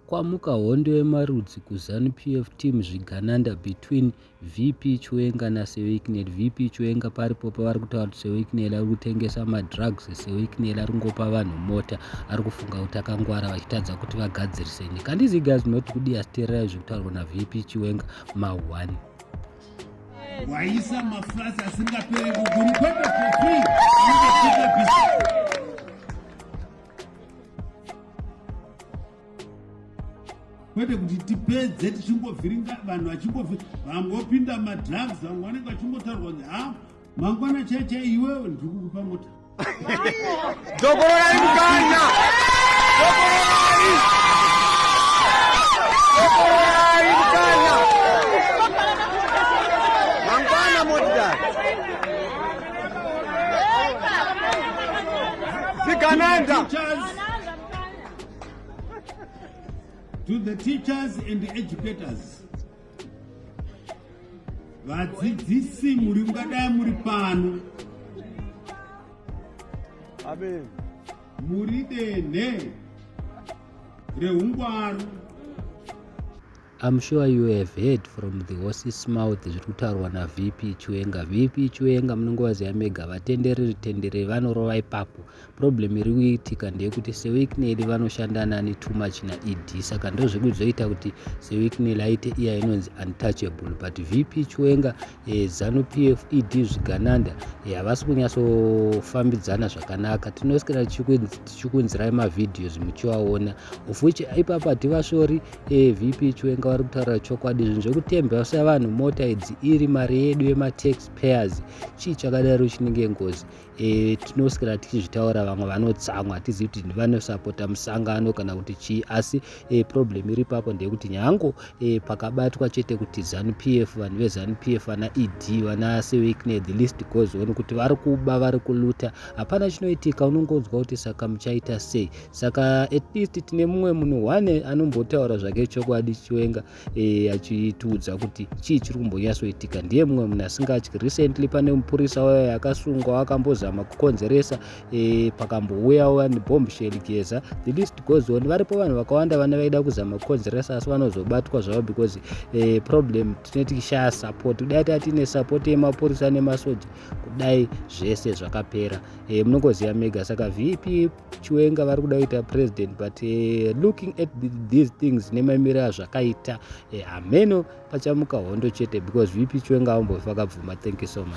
Kwamuka hondo yemarudzi kuZanu PF team zvigananda between VP Chiwenga naSeweiknel. VP Chiwenga paripo pavari kutaura kuti Seweiknel ari kutengesa madrugs, Seweiknel ari kungopa vanhu mota, ari kufunga kuti akangwara vachitadza kuti vagadzirise nyika. And these guys not kudi asiteerera izvi kutaurwa naVP Chiwenga mahwani. Waisa mafrasi asingapere kuguru kwete for free. kwete kuti tipedze tichingovhiringa vanhu vachingovi vamwe vopinda madrugs vamwe vanenge vachingotaurwa kuti ha mangwana chai chai iwewe ndiri kukupa mota dokororai mukanya Sigananda. To the teachers and the educators. Vadzidzisi muri mungadai muri pano. Amen. Muri denhe rehungwaru. I'm sure you have heard from the horse's mouth zviri kutaurwa naVP Chiwenga. VP Chiwenga munongovaziva mega vatendereri tendereri vanorova ipapo. Problem iri kuitika ndeyekuti seWicknell vanoshanda nani too much naED saka ndozviri kuzoita kuti seWicknell aite iya inonzi untouchable but VP Chiwenga e, zanu pf ed zvigananda e, havasi e, kunyatsofambidzana zvakanaka tinosikira tichikunzirai mavhidhios muchivaona of which ipapa hativasvori e, vp chiwenga vari kutaura chokwadi zvinhu zvekutembesa vanhu mota idzi iri mari yedu yematax payers chii chakadaro chinenge ngozi e, tinoswera tichizvitaura vamwe vanotsamwa hatizivi kuti vanosapota musangano kana kuti chii asi e, problem iri papo ndeyekuti nyango e, pakabatwa chete kuti zanup f vanhu vezanup f vana ed vana sewikne the list goes on kuti vari kuba vari kuluta hapana chinoitika unongonzwa kuti saka muchaita sei saka at least tine mumwe munhu one anombotaura zvake chokwadi chiwenga e, achitiudza kuti chii chiri kumbonyatsoitika ndiye mumwe munhu asingatyi recently pane mupurisa waye akasungwa akambozama kukonzeresa e, pakambouyawo vanhu bombshell geza the list goes on varipo vanhu vakawanda vana vaida kuzama kukonzeresa asi vanozobatwa zvavo because e, problem tine tikishaya support kudai taa tiine support yemapurisa nemasoja kudai zvese zvakapera e, munongoziva mega saka vp chiwenga vari kuda kuita president but uh, looking at the, these things nemamiro azvakaita uh, hameno pachamuka hondo chete because vp chiwenga avambofi vakabvuma thank you so much